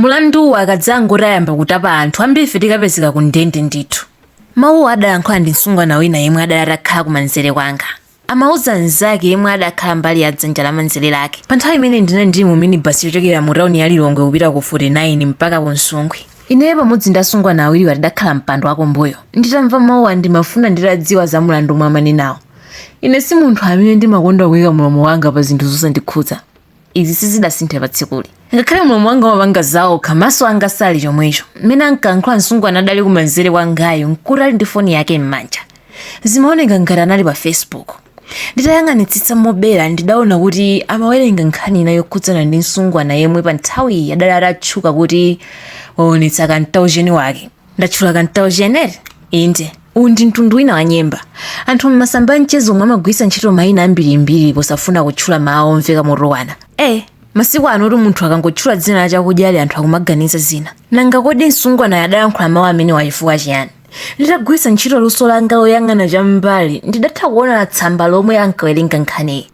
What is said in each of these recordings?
Mulanduwu akadzangoti ayamba kutapa anthu ambirife tikapezeka ku ndende ndithu. Mawuwa adalankhula ndi msungwana wina yemwe adali atakhala kumanzere kwanga. Amauza mnzake yemwe adakhala mbali ya dzanja lamanzere lake. Pa nthawi imeneyi ndinali ndili mu minibasi yochokera mu tauni ya Lilongwe kupita ku 49 mpaka ku Nsungwi. Ineyo pamodzi ndi asungwana awiriwa tidakhala mpando wakumbuyo. Nditamva mawuwa ndimafuna nditadziwa za mulandu omwe amanenawo. Ine si munthu amene ndimakonda kuika mlomo wanga pa zinthu zosandikhudza. izi sizidasinthe pa tsikuli ngakhale mlomo wanga umapanga zawokha maso anga sadali chomwecho mmene ankayankhula msungwana adali kumanzere kwangayo nkuti ali ndi foni yake m'manja zimaoneka ngati anali pa facebook nditayang'anitsitsa mobera ndidaona kuti amawerenga nkhani ina yokhudzana ndi msungwana yemwe pa nthawiyi adali atatchuka kuti waonetsa kantaucheni wake ndatchula kantaucheni inde uwu ndi mtundu wina wa nyemba anthu m'masamba a mchezomu amagwiritsa ntchito mayina ambirimbiri posafuna kutchula mawu omveka motukwana masiku anotu munthu akangotchula dzina la chakudyachi anthu akumaganiza zina nanga kodi msungwanayo adalankhula mawu amenewa chifukwa chiyani nditagwiritsa ntchito luso langa loyang'ana cham'mbali ndidatha kuona tsamba lomwe ankawerenga nkhaniyi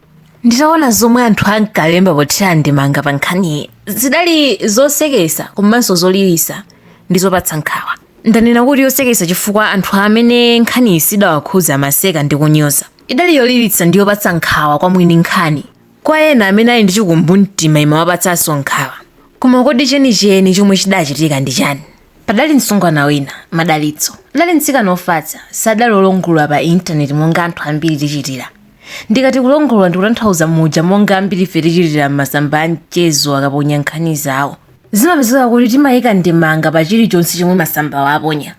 nditaona zomwe anthu ankalemba pothira ndemanga pa nkhaniyi zidali zoseketsa komanso zolilitsa ndi zopatsa nkhawa ndanena kuti yoseketsa chifukwa anthu amene nkhaniyi sidawakhudza amaseka ndi kunyoza idali yolilitsa ndi yopatsa nkhawa kwa mwini nkhani kwa ena amene ali ndi chikumbumtima imawapatsanso nkhawa koma kodi chenicheni chomwe chidachitika ndi chani padali msungwana wina madalitso adali mtsikana ofatsa sadali olongolola pa intaneti monga anthu ambiri tichitira Ndikati kulongolola ndikutanthauza muja monga ambirife tichitira m'masamba a mchezo akaponya nkhani zawo. Zimapezeka kuti timaika ndemanga pa chilichonse chomwe masambawo aponya.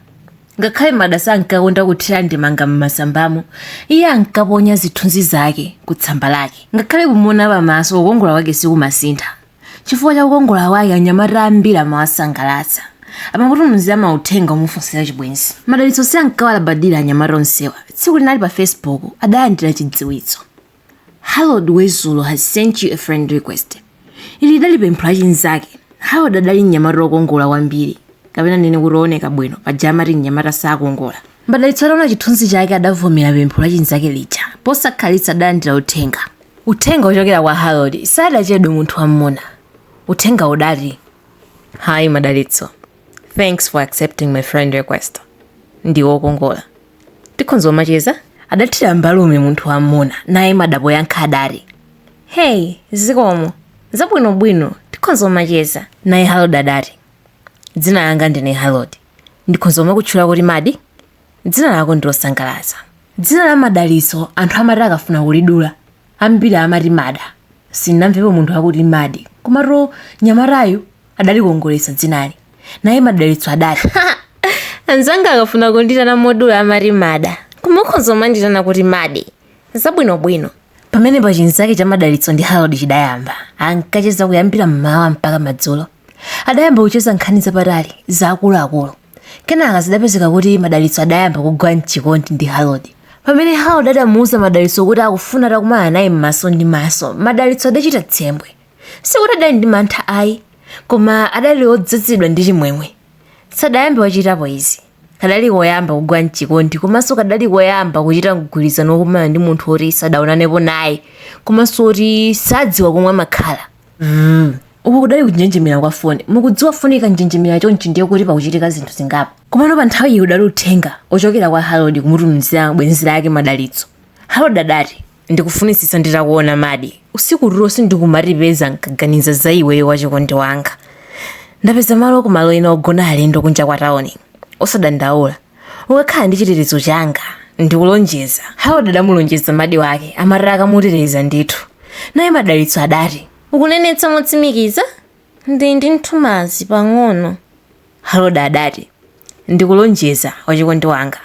Ngakhale Mada sankakonda kuthira ndemanga m'masambamo, iye ankaponya zithunzi zake ku tsamba lake. Ngakhale kumuona pamaso kukongola kwake sikumasintha. Chifukwa cha kukongola kwake, anyamata ambiri amawasangalatsa. Amamutumizira mauthenga omufunsira chibwenzi. Madalitso sankawalabadira anyamata onsewa. Tsiku lina ali pa Facebook, adalandira chidziwitso. Harold Wezulo has sent you a friend request. Ili lidali pempho la chinzake. Harold adali mnyamata wokongola kwambiri, kapena ndinene kuti wooneka bwino, paja amati mnyamata sakongola. Madalitso ataona chithunzi chake adavomera pempho la chinzake lija. Posakhalitsa adalandira uthenga. Uthenga wochokera kwa Harold sadachedwe munthu wammuna. Uthenga udati. Hi Madalitso. Thanks for accepting my friend request. Ndiwe okongola. Tikhonza kumacheza? Adathira mbalume munthu wammuna naye Mada poyankha adati. Hey, zikomo. Zabwinobwino, tikhonza kumacheza. Naye Harold adati. Dzina langa ndine Harold. Ndikhonza kumakutchula kuti Madi, dzina lako ndi losangalatsa. Dzina la Madalitso anthu amati akafuna kulidula, ambiri amati Mada. Sindinamvepo munthu akuti Madi. Komatu mnyamatayu adalikongoletsa dzinali. Naye Madalitso adati, Ha! Anzanga akafuna kunditana modula amati Mada, koma ukhonza kumanditana kuti Madi. Zabwinobwino. Pamenepa chinzake cha Madalitso ndi Harold chidayamba. Ankacheza kuyambira m'mawa mpaka madzulo. adayamba kucheza nkhani zapatali za akuluakulu kenaka zidapezeka kuti madalitso adayamba kugwa mchikondi ndi harold pamene harold adamuuza madalitso kuti akufuna atakumana naye m'maso ndi maso madalitso adachita tsembwe sikuti adali ndi mantha ayi koma adali odzazidwa ndi chimwemwe sadayambe wachitapo izi kadali koyamba kugwa mchikondi komanso kadali koyamba kuchita mgwirizano wokumana ndi munthu woti sadaonanepo naye komanso woti sadziwa komwe amakhala mm. uku kudali kunjenjemera kwa foni mukudziwa foni ikanjenjemera chonchi ndiye kuti pakuchitika zinthu zingapo komano pa nthawi iyi udali uthenga ochokera kwa harold kumutumizira bwenzi lake madalitso harold adati ndikufunitsitsa nditakuona madi usiku tulo sindikumatipeza nkaganiza za iweyo wachikondi wanga ndapeza malo kumalo ena ogona alendo kunja kwa tauni osadandaula ukakhala ndi chitetezo changa ndikulonjeza harold adamulonjeza madi wake amati akamuteteza ndithu naye madalitso adati ukunenetsa motsimikiza ndili ndi nthumazi pang'ono harold adati ndikulonjeza wachikondi wanga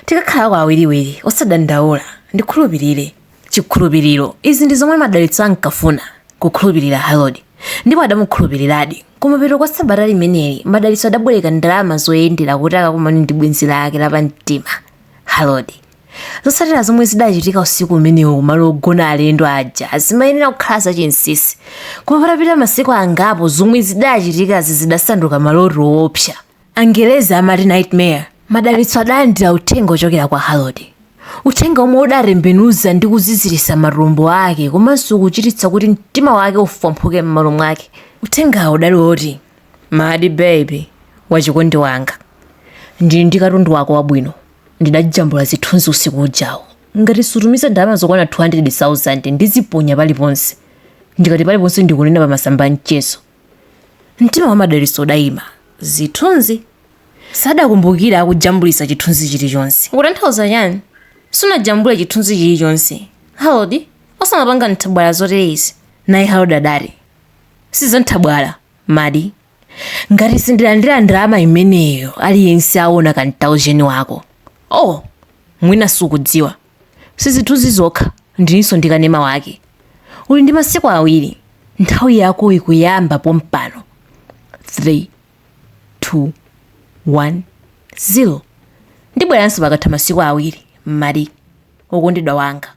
tikakhalako awiriwiri osadandaula ndikhulupirire chikhulupiriro. Izi ndi zomwe madalitso ankafuna, kukhulupirira Harold. Ndipo adamukhulupiriradi. Kumapeto kwa sabata limeneli, madalitso adabwereka ndalama zoyendera kuti akakumane ndi bwenzi lake lapamtima, Harold. Zotsatira zomwe zidachitika usiku umenewo kumalo ogona alendo aja zimayenera kukhala zachinsisi. Koma patapita masiku angapo zomwe zidachitikazi zidasanduka maloto oopsa. Angelezi amati Nightmare. Madalitso adalandira uthenga ochokera kwa Harold. Uthenga omwe udatembenuza ndi kuziziritsa matumbo ake komanso kuchititsa kuti mtima wake ufwamphuke mmalo mwake. Uthengawo udali oti. Madi baby, wachikondi wanga. Ndili ndi katundu wako wabwino. Ndidajambula zithunzi usiku ujawo. Ngati sutumiza ndalama zokwana 200,000 ndiziponya paliponse. Ndikati paliponse ndikunena pa masamba a mchezo. Mtima wa madalitso udaima. Zithunzi. Sadakumbukira akujambulitsa chithunzi chilichonse. Ukutanthauza chani? Sunajambule chithunzi chilichonse. Harold, osamapanga nthabwala zotere izi. Naye Harold adati, Si za nthabwala, Madi. Ngati sindilandira ndalama imeneyo aliyense aona ka mtaujeni wako. Oh, mwina sukudziwa. Si zithunzi zokha, ndilinso ndi kanema wake. Uli ndi masiku awiri. Nthawi yako ikuyamba pompano. 3 2 1 0 Ndibweranso pakatha masiku awiri, Mada, wokondedwa wanga.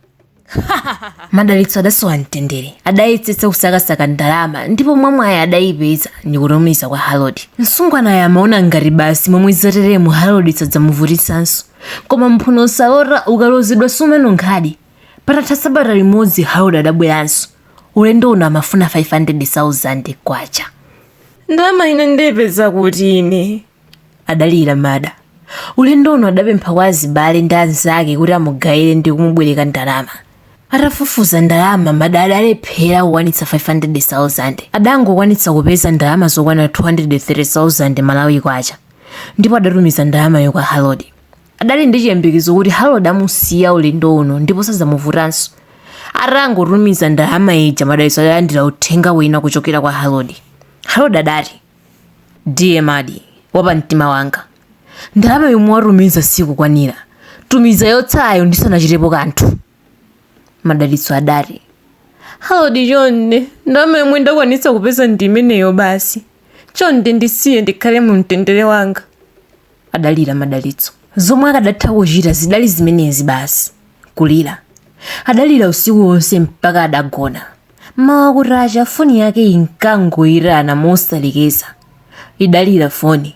Madalitso adasowa mtendere. Adayetsetsa kusakasaka ndalama ndipo mwamwayi adayipeza ndikutumiza kwa Harold. Msungwanayo amaona ngati basi momwe zateremu Harold sadzamuvutitsanso. koma mphuno salota ukalodzedwa sumanunkhadi patatha sabata limodzi harold adabweranso ulendo uno amafuna 500,000 kwacha ndalama ine ndiyipeza kuti ine adalira mada ulendo uno adapempha kwa azibale ndi anzake kuti amugayire ndi kumubwereka ndalama atafufuza ndalama mada adalephera kukwanitsa 500,000 adangokwanitsa kupeza ndalama zokwana 230,000 malawi kwacha ndipo adatumiza ndalamayo kwa Harold. Adali ndi chiyembekezo kuti Harold amusiya ulendo uno ndipo sadzamuvutanso. Atangotumiza ndalama ija madalitso adalandira uthenga wina kuchokera kwa Harold. Harold adati, Dear Mada wapamtima wanga. Ndalama yomwe watumiza sikukwanira. Tumiza yotsalayo ndisanachitepo kanthu. madalitso adati harold chonde ndalama yomwe ndakwanitsa kupeza ndi imeneyo basi chonde ndisiye ndikhale mu mtendere wanga adalira madalitso zomwe akadatha kuchita zidali zimenezi basi kulira adalira usiku wonse mpaka adagona mmawa kutacha foni yake inkangoitana mosalekeza idalira foni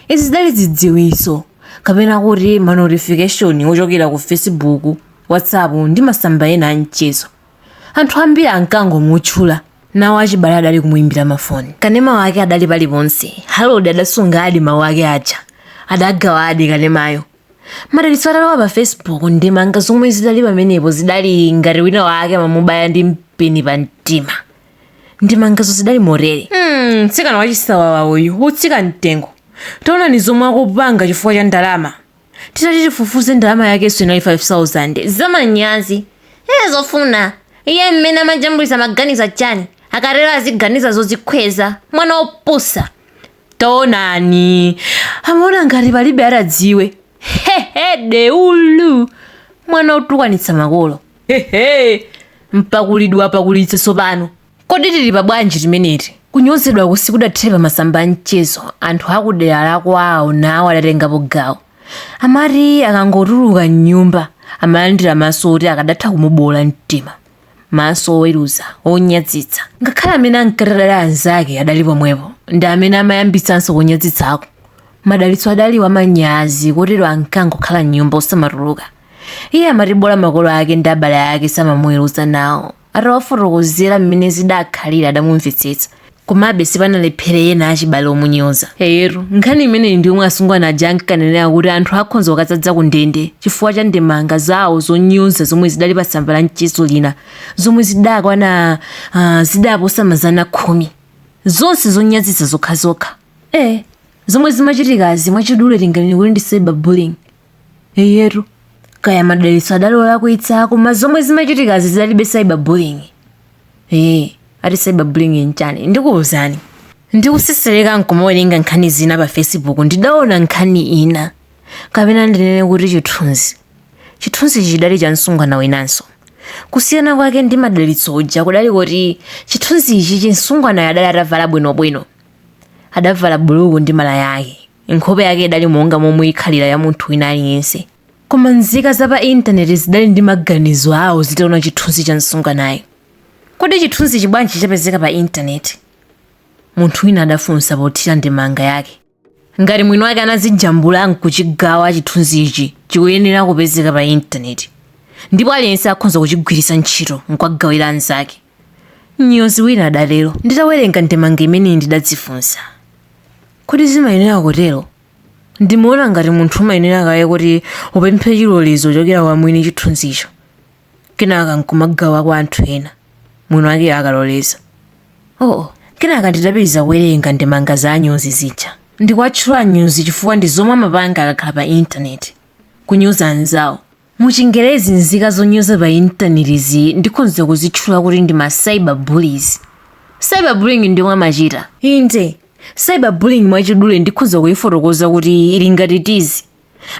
Izi zidali zidziwitso kapena kuti manotification ochokera ku Facebook, WhatsApp ndi masamba ena a mchezo. Anthu ambiri ankangomutchula. Nawo achibale adali kumuimbira mafoni. Kanema wake adali paliponse. Harold adasungadi mawu ake aja. Adagawadi kanemayo. Madalitso atalowa pa Facebook, ndemanga zomwe zidali pamenepo zidali ngati wina wake amamubaya ndi mpeni pamtima. ndemangazo zidali motere Hmm, mtsikana wachisawawa uyu otsika mtengo taonani zomwe akupanga chifukwa cha ndalama titati tifufuze ndalama yakenso inali 5000 zamanyazi ee zofuna iye mmene amajambulitsa amaganiza chani akatero aziganiza zodzikhweza mwana wopusa taonani amaona ngati palibe atadziwe hehe deulu mwana otukwanitsa makolo hehe mpakuleni wapakulitsa tsopano kodi tili pa bwanji timeneti kunyozedwa ku sikudathere pa masamba a mchezo anthu akudera lakwawo nawo adatengapo gawo amati akangotuluka mnyumba amalandira maso oti akadatha kumuboola mtima maso oweruza onyadzitsa ngakhale amene ankati adali anzake adali pomwepo ndi amene amayambitsanso kunyadzitsako madalitso adali wamanyazi kotero ankangokhala mnyumba osamatuluka iye amati bola makolo ake ndi abale ake samamuweruza nawo atawafotokozera mmene zidakhalira adamumvetsetsa komabe sipanalephere ena achibale omunyoza eyetu nkhani imeneyi ndi yomwe asungwana aja ankanenera kuti anthu akhonza kukadzadza ku ndende chifukwa cha ndemanga zawo zonyoza zomwe zidali pa tsamba la mchezo lina zomwe zidakwana ah, zidaposa mazana khumi zonse zonyazitsa zokhazokha eh zomwe zimachitikazi mwachidule tinganene kuti ndi cyberbullying eyetu kaya madalitso adali olakwitsa koma zomwe zimachitikazi zidalibe cyberbullying ee ati cyberbullying nchani ndikuwuzani ndikusesereka nkumawerenga nkhani zina pa facebook ndidaona nkhani ina kapena ndinene kuti chithunzi chithunzi chidali cha msungwana winanso kusiyana kwake ndi madalitso uja kudali kuti chithunzichi msungwanayo adali atavala bwinobwino adavala buluku ndi malaya ake nkhope yake idali monga momwe ikhalira ya munthu wina aliyense koma nzika za pa intaneti zidali ndi maganizo awo zitaona chithunzi cha msungwanayo kodi chithunzichi bwanji chapezeka pa intaneti munthu wina adafunsa pothira ndemanga yake ngati mwini wake anazijambula nkuchigawa chithunzichi chikuyenera kupezeka pa intaneti ndipo aliyense akhonza kuchigwiritsa ntchito nkuwagawira anzake Mnyozi wina adatero. Nditawerenga ndemanga imeneyi ndidadzifunsa. Kodi zimayenera kutero? Ndimaona ngati munthu umayenera kaye kuti upemphe chilolezo kuchokera kwa mwini chithunzicho, kenaka n'kumagawa kwa anthu ena, mwiniwakeyo akaloleza. Oo! Kenaka ndidapitiriza kuwerenga ndemanga za anyozi zija. Ndikuwatchula anyozi chifukwa ndi zomwe amapanga akakhala pa Intaneti, kunyoza anzawo. Mu chingerezi nzika zonyoza pa intanetizi ndikhonza kuzitchula kuti ndi ma cyber bullies. Cyber bullying ndiyomwe amachita. Inde, cyber bullying mwachidule ndikhonza kuyifotokoza kuti ili ngati tizi.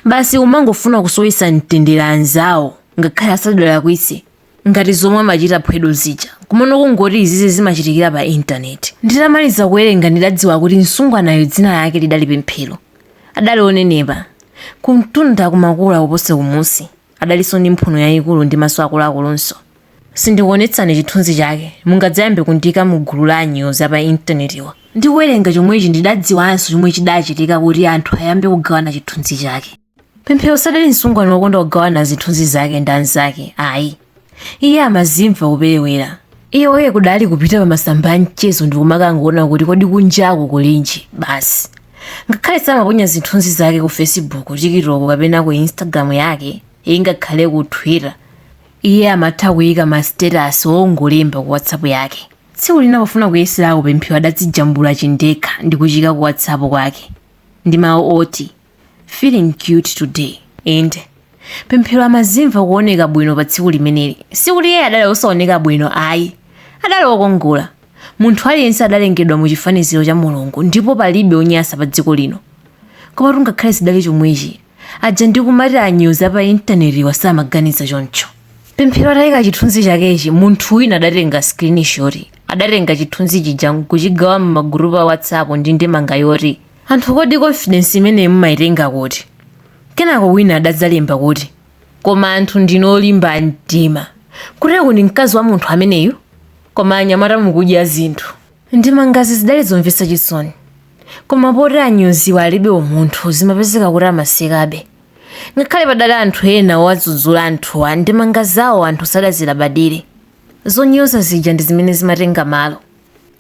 Basi kumangofuna kusowetsa mtendere anzawo ngakhale asadalakwitse. ngati zomwe amachita Phwedo zija. Komano kungoti izizi zimachitikira pa intaneti. Nditamaliza kuwerenga ndidadziwa kuti msungwanayo dzina lake lidali Pemphero. Adali onenepa. Kumtunda kumakula kuposa kumunsi. Adalinso ndi mphuno yayikulu ndi maso akuluakulunso. Sindikuonetsani chithunzi chake, mungadzayambe kundiika mu gulu la anyozi a pa intanetiwa. Ndikuwerenga chomwechi ndidadziwanso chomwe chidachitika kuti anthu ayambe kugawana chithunzi chake. pemphero sadali msungwana wokonda kugawana zithunzi zake ndi anzake ayi iye amazimva kuperewera iye oye kudali kupita pa masamba a mchezo ndi kumakangoona kuti kodi kunjako kulinji basi ngakhale samaponya zithunzi zake ku facebook tikitoko kapena ku instagram yake ingakhale ku twitter iye amatha kuyika ma status ongolemba ku whatsapp yake tsiku lina pofuna kuyeserako pemphero adadzijambula chindekha ndi kuchiika ku whatsapp kwake ndi mawu oti feeling cute today inde pemphero amazimva kuoneka bwino pa tsiku limeneli sikuti iye adali osaoneka bwino ayi adali okongola munthu aliyense adalengedwa mu chifaniziro cha mulungu ndipo palibe onyasa pa dziko lino koma ngakhale zidali chomwechi aja ndikumati anyozi apa intanetiwa samaganiza choncho pemphero ataika chithunzi chakechi munthu wina adatenga screenshot adatenga chithunzi chija nkuchigawa m'magurupu a whatsapp ndi ndemanga yoti Anthu kodi confidence imeneyo mumaitenga kuti? Kenako wina adadzalemba kuti, Koma anthu ndinu olimba mtima. Kuteku ndi mkazi wa munthu ameneyu? Koma anyamata mukudya zinthu. Ndemangazi zidali zomvetsa chisoni. Koma poti anyoziwa alibe umunthu zimapezeka kuti amasekabe. Ngakhale padali anthu ena owadzudzula anthuwa ndemanga zawo anthu sadazilabadire. Zonyoza zija ndi zimene zimatenga malo.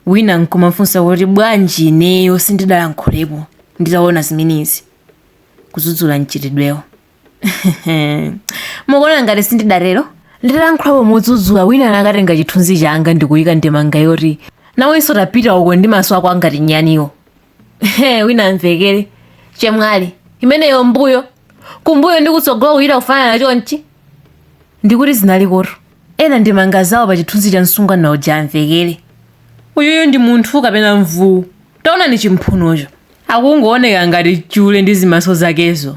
wina nkumafunsa kuti bwanji ineyo sindidalankhulepo nditaona zimenezi kudzudzula mchitidwewo mukuona ngati sindidatero nditalankhulapo modzudzula wina anakatenga chithunzi changa ndikuyika ndemanga yoti nawenso tapita uko ndi maso ako angati nyaniwo He, wina amvekere chemwali imeneyo mbuyo kumbuyo ndi kutsogolo kuyita kufanana chonchi ndikuti zinalikotu ena ndemanga zawo pa chithunzi cha msungwana uja amvekere uyuyu ndi munthu kapena mvuwu taonani chimphunocho akungooneka ngati chule ndi zimaso zakezo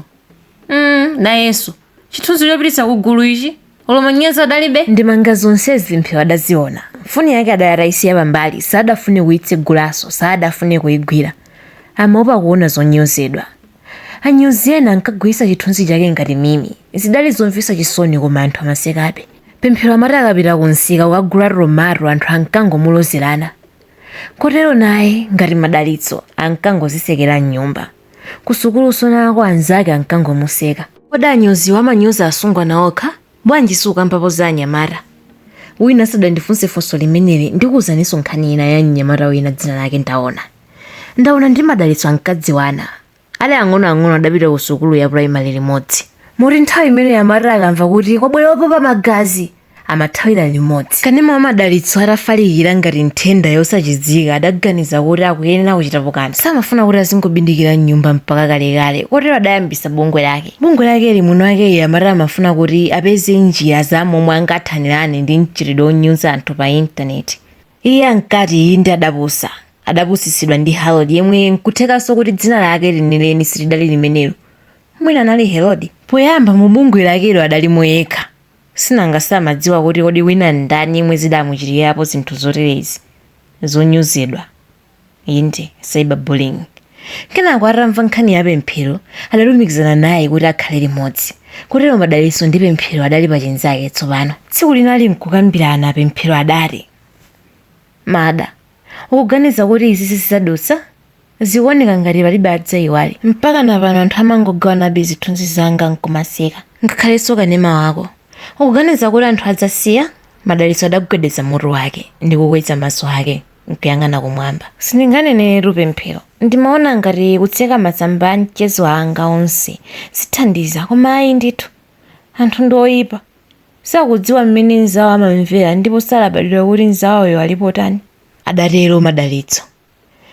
mm, nayenso Chithunzi chopititsa ku gulu ichi, olo manyazi adalibe. Ndemanga zonsezi Pemphero adaziona. Foni yake adali ataisiya pambali, sadafune kuitsegulanso, sadafune kuigwira. Amaopa kuona zonyozedwa. Anyozi ena ankagwiritsa chithunzi chake ngati meme. Zidali zomvetsa chisoni koma anthu amasekabe. Pemphero amati akapita kumsika kukagula tomato anthu ankangomulozerana. Kotero naye, ngati Madalitso, ankangozitsekera m'nyumba. kusukulunso nako anzake ankangomuseka kodi anyoziwa amanyoza asungwana okha bwanji sukambapo za anyamata wina asadandifunse funso limeneli ndikuuzaninso nkhani ina ya mnyamata wina dzina lake ndaona ndaona ndi madalitso ankadziwana ali ang'onoang'ono adapita ku sukulu ya primary limodzi moti nthawi imene amati akamva kuti kwabwera opopa magazi amathawira limodzi. Kanema wa madalitso atafalikira ngati nthenda yosachizika adaganiza kuti akuyenera kuchitapo kanthu. Samafuna kuti azingobindikira m'nyumba mpaka kalekale, kotero adayambitsa bungwe lake. Bungwe lakeli mwini wakeyo amati amafuna kuti apeze njira za momwe angathanirane ndi mchitidwe onyoza anthu pa intaneti. Iye ankati iye inde adapusa. Adapusitsidwa ndi Harold yemwe nkuthekanso kuti dzina lake lenileni silidali limenelo. Mwina anali Herodi? Poyamba mu bungwe lakelo adalimo yekha. Chinanga samadziwa kuti kodi wina ndani yemwe zidamuchitikirapo zinthu zoterezi, zonyozedwa, inde, cyber bullying. Kenako atamva nkhani ya Pemphero adalumikizana naye kuti akhale limodzi. Kotero Madalitso ndi Pemphero adali pachinzake tsopano. Tsiku lina ali nkukambirana Pemphero adati, Mada, ukuganiza kuti izi zidzadutsa? Zikuoneka ngati palibe adzaiwale. Mpakana pano anthu amangogawanabe zithunzi zanga n'kumaseka. Ngakhalenso kanema wako. Ukuganiza kuti anthu adzasiya? Madalitso adagwedeza mutu wake ndi kukweza maso ake n'kuyang'ana kumwamba. Sindinganeneretu pemphero. Ndimaona ngati kutseka masamba a mchezo anga onse zithandiza, koma ayi ndithu. Anthu ndi oipa. Sakudziwa mmene mnzawo amamvera ndipo sadalabadira kuti mnzawoyo ali potani, adatero Madalitso.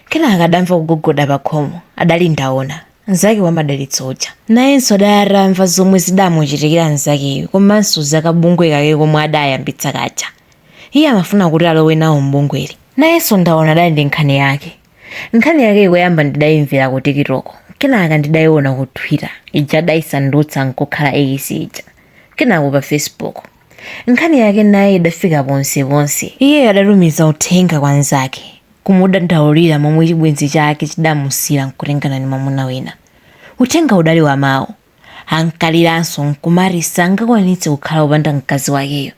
kenaka adamva kugogoda pakhomo adali ndaona mnzake wa madalitso uja nayenso adali atamva zomwe zidamuchitikira mnzakeyu komanso za kabungwe kake komwe adayambitsa kaja iye amafuna kuti alowe nawo mbungweli nayenso ndaona adali ndi nkhani yake nkhani yake koyamba ndidayimvera ku tikitoko kenaka ndidayiona ku twitter ija adayisandutsa nkukhala ekisi ija kenako pa facebook Nkhani yake naye idafika ponseponse. Iyeyo adatumiza uthenga kwa mnzake, kumudandaulira momwe chibwenzi chake chidamusiyira nkutengana ndi mwamuna wina. Uthengawo udali wa mawu. Ankaliranso nkumati sangakwanitse kukhala wopanda mkazi wakeyo.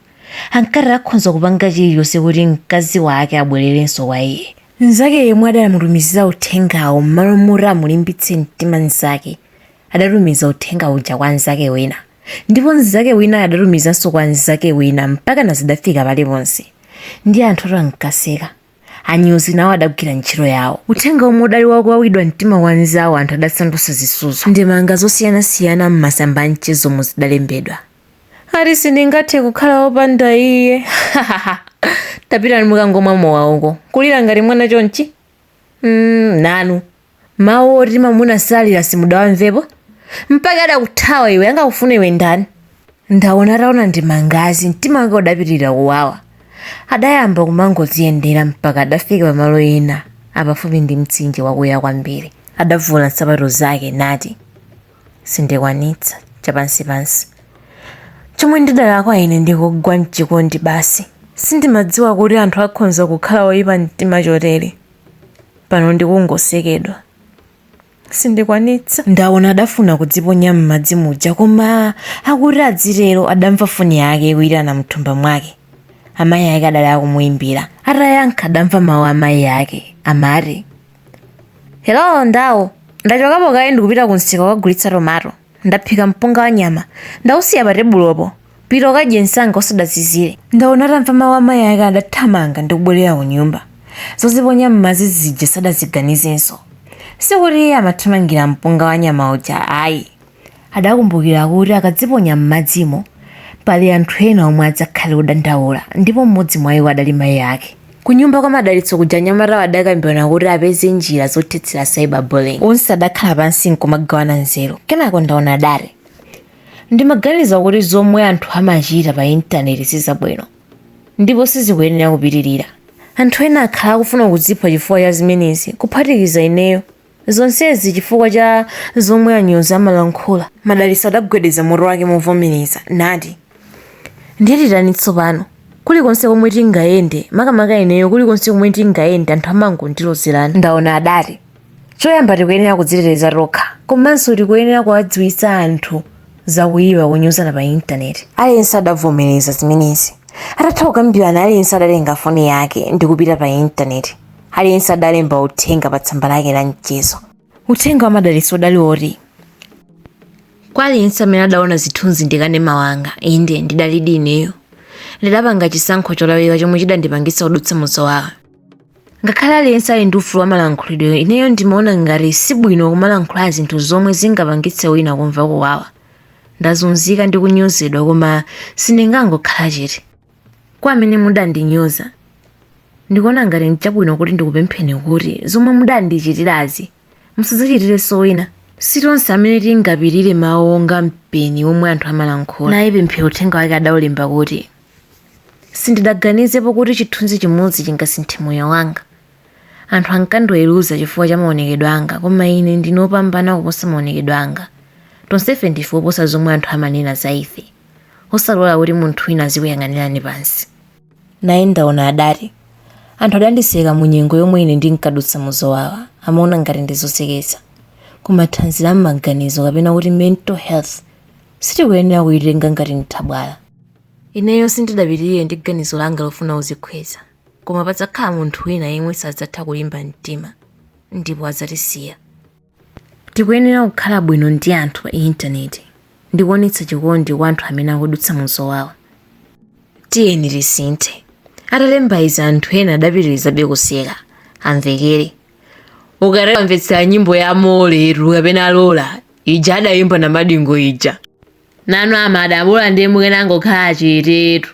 Ankati akhonza kupanga chilichonse kuti mkazi wake abwererenso kwa iye. Mnzake yemwe adamutumizira uthengawo mmalo moti amulimbitse mtima mnzake, adatumiza uthenga uja kwa mnzake wina. ndipo mnzake winayo adatumizanso kwa mnzake wina mpakana zidafika paliponse ndi anthu oti ankaseka anyuzi nawo adagwira ntchito yawo uthenga omwe udali wakuwawidwa mtima wa mnzawo anthu adasandutsa zisudzo ndemanga zosiyanasiyana m'masamba a mchezomu zidalembedwa ati sindingathe kukhala wopanda iye tapitani mukangomwa mowa uko kulira ngati mwana chonchi Mm, nanu mawu oti mamuna salira simudawamvepo mpaka adakuthawa iwe angakufuna iwe ndani ndaona ataona ndemangazi mtima wake udapitirira kuwawa adayamba kumangodziyendera mpaka adafika pamalo ena apafupi ndi mtsinje wakuya kwambiri adavula nsapato zake nati sindikwanitsa chapansipansi chomwe ndidalakwa ine ndi kugwa mchikondi basi sindimadziwa kuti anthu akhonza kukhala oyipa mtima chotere pano ndi kungosekedwa sindikwanitsa ndaona adafuna kudziponya m'madzi muja koma akuti adzitero adamva foni yake ikuyitana mthumba mwake amayi ake adali akumuyimbira atayankha adamva mawu a mayi ake amati Hello ndawo, ndachokapo kaye ndikupita kumsika kukagulitsa tomato. Ndaphika mpunga wa nyama, ndausiya patebulopo. Pita ukadye msanga usadazizire. Ndaona atamva mawu a mayi ake adathamanga ndi kubwerera kunyumba. Zoziponya m'madzi zija sadaziganizenso. Sikuti iye amathamangira mpunga wa nyama uja ayi. Adakumbukira kuti akadziponya m'madzimo, pali anthu ena omwe adzakhale odandaula ndipo mmodzi mwa iwo adali mayi ake. Kunyumba kwa Madalitso kuja anyamatawo adakambirana kuti apeze njira zothetsera cyber bullying. Onse adakhala pansi n'kumagawana nzeru. Kenako Ndaona adati, Ndimaganiza kuti zomwe anthu amachita pa intaneti si zabwino ndipo sizikuyenera kupitirira. Anthu ena akhala akufuna kudzipha chifukwa cha zimenezi, kuphatikiza ineyo. Zonsezi chifukwa cha zomwe anyozi amalankhula. Madalitso adagwedeza mutu wake movomereza nati, Ndiye titani tsopano? Kulikonse komwe tingayende, makamaka ineyo, kulikonse komwe tingayende anthu amangondilozerana. Ndaona adati choyamba tikuyenera kudziteteza tokha komanso tikuyenera kuwadziwitsa anthu za kuipa konyozana pa Intaneti. Aliyense adavomereza zimenezi. Atatha kukambirana aliyense adatenga foni yake ndi kupita pa Intaneti. aliyense adalemba uthenga pa tsamba lake la mchezo. Uthenga wa Madalitso udali woti kwa aliyense amene adaona zithunzi ndikanema wanga inde ndidalidi ineyo ndidapanga chisankho cholakwika chomwe chidandipangitsa kudutsa muzowawa ngakhale aliyense ali ndi ufulu wa malankhulidwe ineyo ndimaona ngati sibwino kumalankhula zinthu zomwe zingapangitse wina kumva kuwawa ndazunzika ndi kunyozedwa koma sindingangokhala chete kwa amene mudandinyoza ndikuona ngati nchabwino kuti ndikupempheni kuti zomwe mudandichitirazi musadzachitirenso wina si tonse amene tingapirire mawu onga mpeni omwe anthu amalankhula naye Pemphero uthenga wake adaulemba kuti sindidaganizepo kuti chithunzi chimodzi chingasinthe moyo wanga anthu ankandiweruza chifukwa cha maonekedwe anga koma ine ndine opambana kuposa maonekedwe anga tonsefe ndife oposa zomwe anthu amanena za ife osalola kuti munthu wina azikuyang'anirani pansi naye Ndaona adati anthu adandiseka mu nyengo yomwe ine ndinkadutsa mu zowawa amaona ngati ndizoseketsa koma thanzi la m'maganizo kapena kuti mental health sitikuyenera kuyitenga ngati nthabwala ineyo sindidapitirire ndi ganizo langa lofuna kudzikhweza koma padzakhala munthu wina yemwe sadzatha kulimba mtima ndipo adzatisiya Tikuyenera kukhala bwino ndi anthu pa intaneti ndi kuonetsa chikondi kwa anthu amene akudutsa mu zowawa. Tiyeni tisinthe. Atalemba izi anthu ena adapitirizabe kuseka, amvekere, Ukatamvetsera nyimbo ya Moletu kapena Lola ija adayimba Namadingo ija. Nanu amada, bola ndiye mukanangokhala chetetu.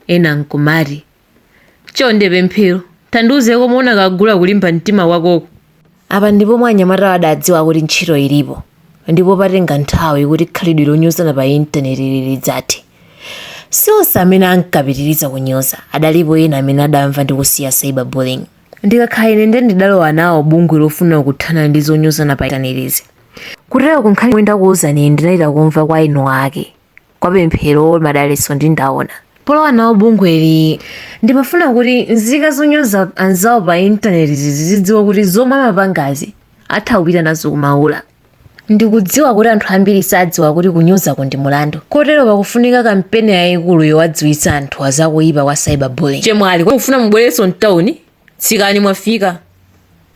Ena n'kumati. Chonde Pemphero, tandiuze komwe unakagula kulimba mtima kwakoko. Apa ndi pomwe anyamatawa adadziwa kuti ntchito ilipo ndipo patenga nthawi kuti khalidwe lonyozana pa intanetili lidzathe. Si onse amene ankapitiriza kunyoza, adalipo ena amene adamva ndi kusiya cyberbullying. Ndikakhala ine ndiye ndidalowa nawo bungwe lofuna kuthana ndi zonyozana pa intanetizi. Kutereko nkhani yomwe ndakuuzani iyi ndidachita kumva kwa eni ake. kwa pemphero madalitso ndi ndaona polowa nawo bungweli ndimafuna kuti nzika zonyoza anzawo pa intaneti zizidziwa kuti zomwe amapangazi atha kupita nazo kumaula ndikudziwa kuti anthu ambiri sadziwa kuti kunyozako ndi mulandu kotero pakufunika kampeni yayikulu yowadziwitsa anthu azakuyipa kwa cyberbullying chemwali mukufuna mubwerenso mtawuni tsikani mwafika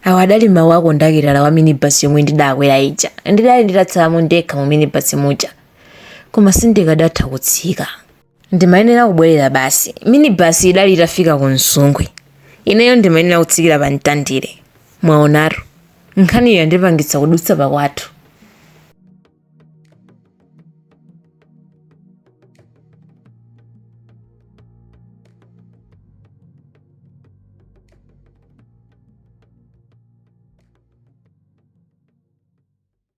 awa adali mawu akondakitala wa minibasi yomwe ndidakwera ija ndidali nditatsalamo ndekha mu minibasi muja koma sindikadatha kutsika ndimayenera kubwerera basi minibasi idali itafika ku msungwi ineyo ndimayenera kutsikira pa mtandire mwaonatu nkhaniyo yandipangitsa kudutsa pakwathu